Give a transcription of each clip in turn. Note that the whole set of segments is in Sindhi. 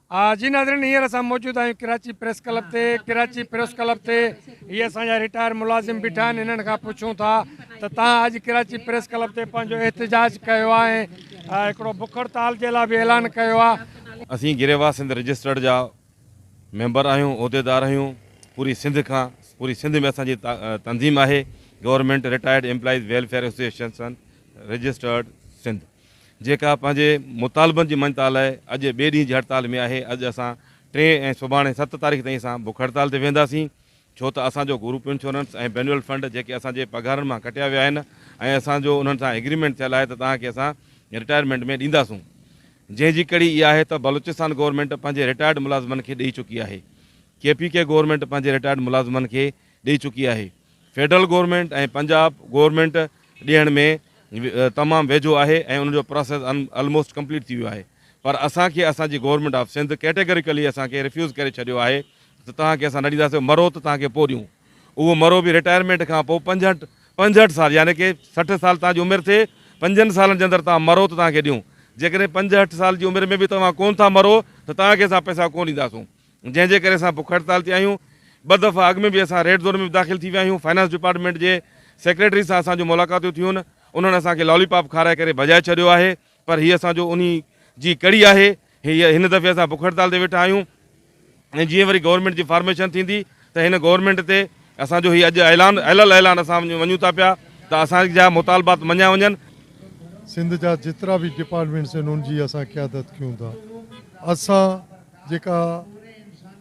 آ جي ناظرين هينئر اسان موجود آهيون ڪراچي پريس ڪلب تي ڪراچي پريس ڪلب تي هي اسان جا رٽائر ملازم بيٺا آهن هنن کان پڇون ٿا ته تهان اڄ ڪراچي پريس ڪلب تي پنهنجو احتجاج ڪيو آ ۽ هڪڙو بک هڙتال جي لا به اعلان ڪيو آ اسين گريوا سنڌ رجسٽرڊ جا ميمبر آهيون عهديدار آهيون پوري سنڌ کان پوري سنڌ ۾ اسان جي تنظيم آهي government retired employees welfare association registered Sindh. جيڪا پنهنجي مطالبن جي مڃتا لاء اڄ ٻئي ڏينهن جي هڙتال ۾ آهي، اڄ اسان ٽين ۽ سڀاڻي ست تاريخ تائين اسان بک هڙتال تي ويهنداسين، ڇو ته اسان جو گروپ انشورنس ۽ بينول فنڊ جيڪي اسان جي پگهارن مان ڪٽيا ويا آهن ۽ اسان جو انهن سان ايگريمينٽ ٿيل آهي ته توهان کي اسان رٽائرمينٽ ۾ ڏينداسون، جنهن جي ڪڙي اها آهي ته بلوچستان گورنمينٽ پنهنجي رٽائرڊ ملازمن کي ڏئي چڪي آهي، ڪي پي ڪي گورنمينٽ پنهنجي رٽائرڊ ملازمن کي ڏئي چڪي آهي فيڊرل گورنمينٽ ۽ پنجاب گورنمينٽ ڏيڻ ۾ تمام ويجهو آهي ۽ ان جو پراسيس الموسٽ ڪمپليٽ ٿي ويو آهي پر اسان کي اسان جي گورنمينٽ آف سنڌ ڪيٽيگريڪلي اسان کي ريفيوز ڪري ڇڏيو آهي ته توهان کي اسان نه ڏينداسين مرو ته توهان کي پوء ڏيون اهو مرو به رٽائرمينٽ کان پوء پنجهٺ پنجهٺ سال يعني ڪي سٺ سال توهان جي عمر ٿئي پنجن سالن جي اندر توهان مرو ته توهان کي ڏيون جيڪڏهن پنجهٺ سال جي عمر ۾ به توهان ڪون ٿا مرو ته توهان کي اسان پئسا ڪون ڏينداسون جنهن جي ڪري اسان بک هڙتال تي آهيون، ٻه دفعا اڳ ۾ به اسان ريڊ زون ۾ به داخل ٿي ويا آهيون، فنانس ڊپارٽمينٽ جي سيڪريٽري سان اسان جون ملاقاتون ٿيون، انهن اسان کي لالي پاپ کارائي ڪري ڀڄائي ڇڏيو آهي، پر هي اسان جو انهي جي ڪڙي آهي، هن دفعي اسان بک هڙتال تي ويٺا آهيون ۽ جيئن وري گورنمينٽ جي فارميشن ٿيندي ته هن گورنمينٽ تي اسان جو هي اڄ اعلان اعلٰي الاعلان اسان وڃون ٿا پيا ته اسان جا مطالبات مڃيا وڃن. سنڌ جا جيترا به ڊپارٽمينٽس آهن ان جي اسان قيادت ڪيون ٿا، اسان جيڪا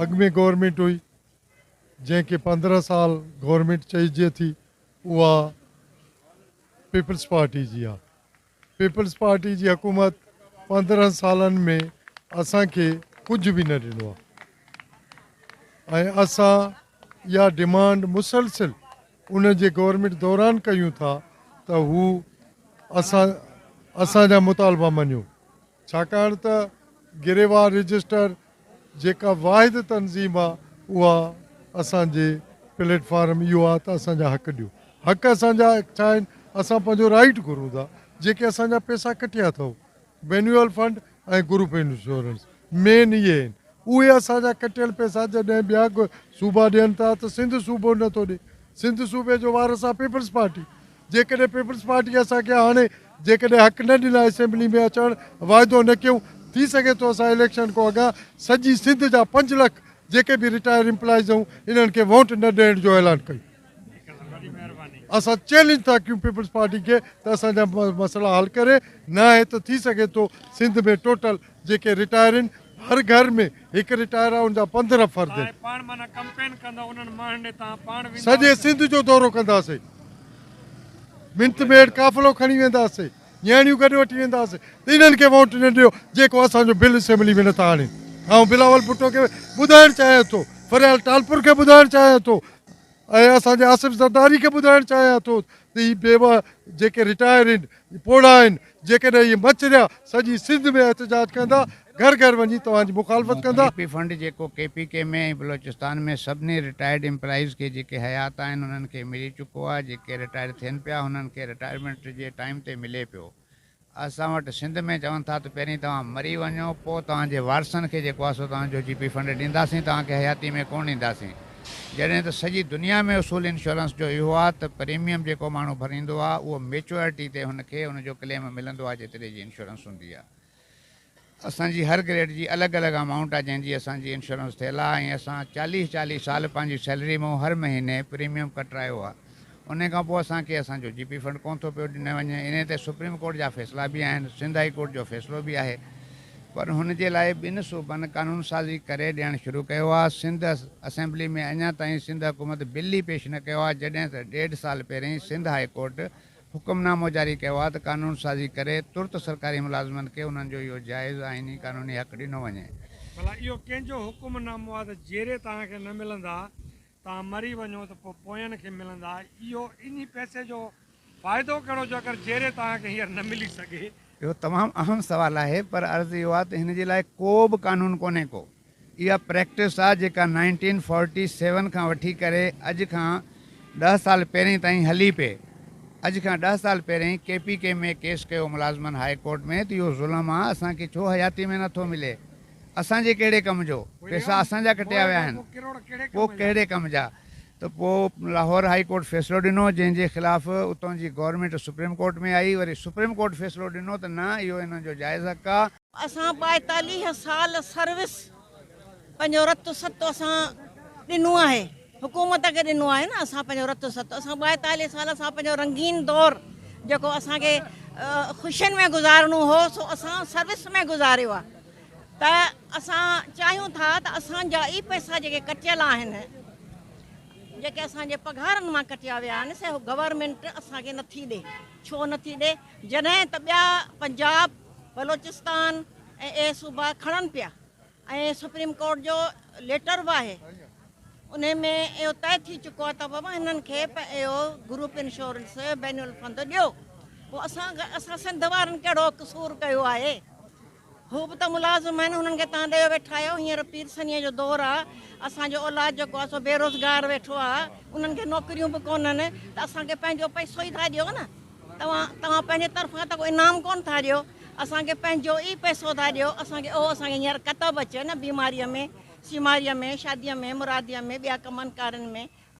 اڳ ۾ گورنمينٽ هئي جنهن کي پندرهن سال گورنمينٽ چئجي ٿي اها پيپلز پارٽي جي آهي پيپلز پارٽي جي حڪومت پندرهن سالن ۾ اسان کي ڪجهه به نه ڏنو آهي ۽ اسان اها ڊمانڊ مسلسل انهن جي گورنمينٽ دوران ڪيون ٿا ته هو اسان اسان جا مطالبا مڃيو ڇاڪاڻ ته گريوان رجسٽر جيڪا واحد تنظيم آ اها اسان جي پليٽ فارم اهو آ ته اسان جا حق ڏيو حق اسان جا ڇا آهن اسان پنهنجو رائيٽ گهرون ٿا جيڪي اسان جا پيسا ڪٺيا اٿئو مينيوئل فنڊ ۽ گروپ انشورنس مين اهي آهن اهي اسان جا ڪٽيل پيسا جڏهن ٻيا صوبا ڏين ٿا ته سنڌ صوبو نه ٿو ڏي سنڌ صوبي جو وارث آ پيپلز پارٽي جيڪڏهن پيپلز پارٽي اسان کي هاڻي جيڪڏهن حق نه ڏنا اسيمبلي ۾ اچڻ واعدو نه ڪيون ٿي سگهي ٿو اسان اليڪشن کون اڳا سڄي سنڌ جا پنج لک جيڪي به رٽائر امپلائيز هون انهن کي ووٽ نه ڏيڻ جو اعلان ڪيون اسان چيلنج ٿا ڪيون پيپلز پارٽي کي ته اسان جا مسئلا حل ڪري ناهي ته ٿي سگهي ٿو سنڌ ۾ ٽوٽل جيڪي رٽائر آهن هر گهر ۾ هڪ رٽائر آهي ان جا پندرهن فرد آهن. سڄي سنڌ جو دورو ڪنداسين منٿ ميڊ قافلو کڻي وينداسين نياڻيون گڏ وٺي وينداسين ته انهن کي ووٽ نه ڏيو جيڪو اسان جو بل اسيمبلي ۾ نٿا آڻين آئون بلاول ڀٽو کي ٻڌائڻ چاهيان ٿو فريال ٽالپر کي ٻڌائڻ چاهيان ٿو ۽ اسان جي آصف زرداري کي ٻڌائڻ چاهيان ٿو ته هي بيوه جيڪي رٽائر هن پوڙها آهن جيڪڏهن اهي مڇريا سڄي سنڌ ۾ احتجاج ڪندا گهر گهر وڃي توهان جي مخالفت ڪندا. ڪيپي فنڊ جيڪو ڪي پي ڪي ۾ ۽ بلوچستان ۾ سڀني رٽائرڊ امپلائيز کي جيڪي حيات آهن انهن کي ملي چڪو آهي جيڪي رٽائر ٿين پيا انهن کي رٽائرمينٽ جي ٽائيم تي ملي پيو. اسان وٽ سنڌ ۾ چون ٿا ته پهرين توهان مري وڃو پوء توهان جي وارثن کي جيڪو آهي سو توهان جو جي پي فنڊ ڏينداسين توهان کي حياتي ۾ ڪونه ڏينداسين جڏهن ته سڄي دنيا ۾ اصول انشورنس جو اهو آهي ته پريميم جيڪو ماڻهو ڀريندو آهي اهو ميچوئرٽي تي هن کي ان جو ڪليم ملندو آهي جيتري جي انشورنس هوندي آهي اسان جي هر گريڊ جي الڳ الڳ امائونٽ آ جنهن جي اسان جي انشورنس ٿيل آ ۽ اسان چاليهه چاليهه سال پنهنجي سيلري مون هر مهيني پريميم ڪٽرايو آ انهي کان پوء اسان کي اسان جو جي پي فنڊ ڪون ٿو پيو ڏني وڃي انهي تي سپريم ڪورٽ جا فيصلا به آهن سنڌ هائي ڪورٽ جو فيصلو به آهي پر هن جي لاء ٻن صوبن قانون سازي ڪري ڏيڻ شروع ڪيو آ سنڌ اسيمبلي ۾ اڃا تائين سنڌ حڪومت بل ئي پيش نه ڪيو آ جڏهن ته ڏيڍ سال پهرين سنڌ هائي ڪورٽ حڪم نامو جاري ڪيو آهي ته قانون سازي ڪري ترت سرڪاري ملازمن کي انهن جو اهو جائز آئيني قانوني حق ڏنو وڃي. ڀلا اهو ڪنهن جو حڪم نامو آهي ته جيري توهان کي نه ملندا، توهان مري وڃو ته پوء پوين کي ملندا، اهو انهي پئسي جو فائدو ڪهڙو جو اگر جيري توهان کي هينئر نه ملي سگهي. اهو تمام اهم سوال آهي پر عرض اهو آهي ته هن جي لاء ڪو به قانون ڪونهي ڪو اها پريڪٽس آ جيڪا نائنٽين فورٽي سيون کان وٺي ڪري اڄ کان ڏهه سال پهرين تائين هلي پئي. اڄ کان ڏهه سال پهرين ڪي پي ڪي ۾ ڪيس ڪيو ملازمن هاء ڪورٽ ۾ ته اهو ظلم آ اسان کي ڇو حياتي ۾ نه ٿو ملي. اسان جي ڪهڙي ڪم جو. پيسا اسان جا ڪٽيا ويا آهن پو ڪهڙي ڪم جا. ته پو لاهور هاء ڪورٽ فيصلو ڏنو جنهن جي خلاف اتون جي گورنمينٽ سپريم ڪورٽ ۾ آئي وري سپريم ڪورٽ فيصلو ڏنو ته نه اهو انهن جو جائز حق آ. اسان ٻائيتاليهه سال سروس پنهنجو رتو ستو اسان ڏنو آهي حڪومت کي ڏنو آهي نه اسان پنهنجو رتو ستو اسان ٻائيتاليهه سال اسان پنهنجو رنگين دور جيڪو اسان کي خوشين ۾ گذارڻو هو سو اسان سروس ۾ گذاريو آهي ته اسان چاهيون ٿا ته اسان جا اي پئسا جيڪي ڪٽيل آهن جيڪي اسان جي پگهارن مان ڪٽيا ويا آهن سي گورنمينٽ اسان کي نٿي ڏي ڇو نٿي ڏي جڏهن ته ٻيا پنجاب، بلوچستان ۽ اهي صوبا کڻن پيا ۽ سپريم ڪورٽ جو ليٽر به آهي ان ۾ اهو طئي ٿي چڪو آهي ته بابا هنن کي اهو گروپ انشورنس بين الفند ڏيو پوء اسان اسان سنڌ وارن ڪهڙو قصور ڪيو آهي هو به ته ملازم آهن، انهن کي تان ڏيئو ويٺايو، هينئر پير سنيء جو دور آ، اسان جو اولاد جيڪو آ سو بي روزگار ويٺو آ، انهن کي نوڪريون به ڪونهن ته اسان کي پنهنجو پئسو ئي ٿا ڏيو نه، توهان توهان پنهنجي طرفان ته ڪو انعام ڪونه ٿا ڏيو، اسان کي پنهنجو ئي پئسو ٿا ڏيو، اسان کي اهو اسان کي هينئر ڪتب اچي نه بيماريء ۾، سيماريء ۾، شاديء ۾، مراديء ۾، ٻيا ڪمن ڪارين ۾،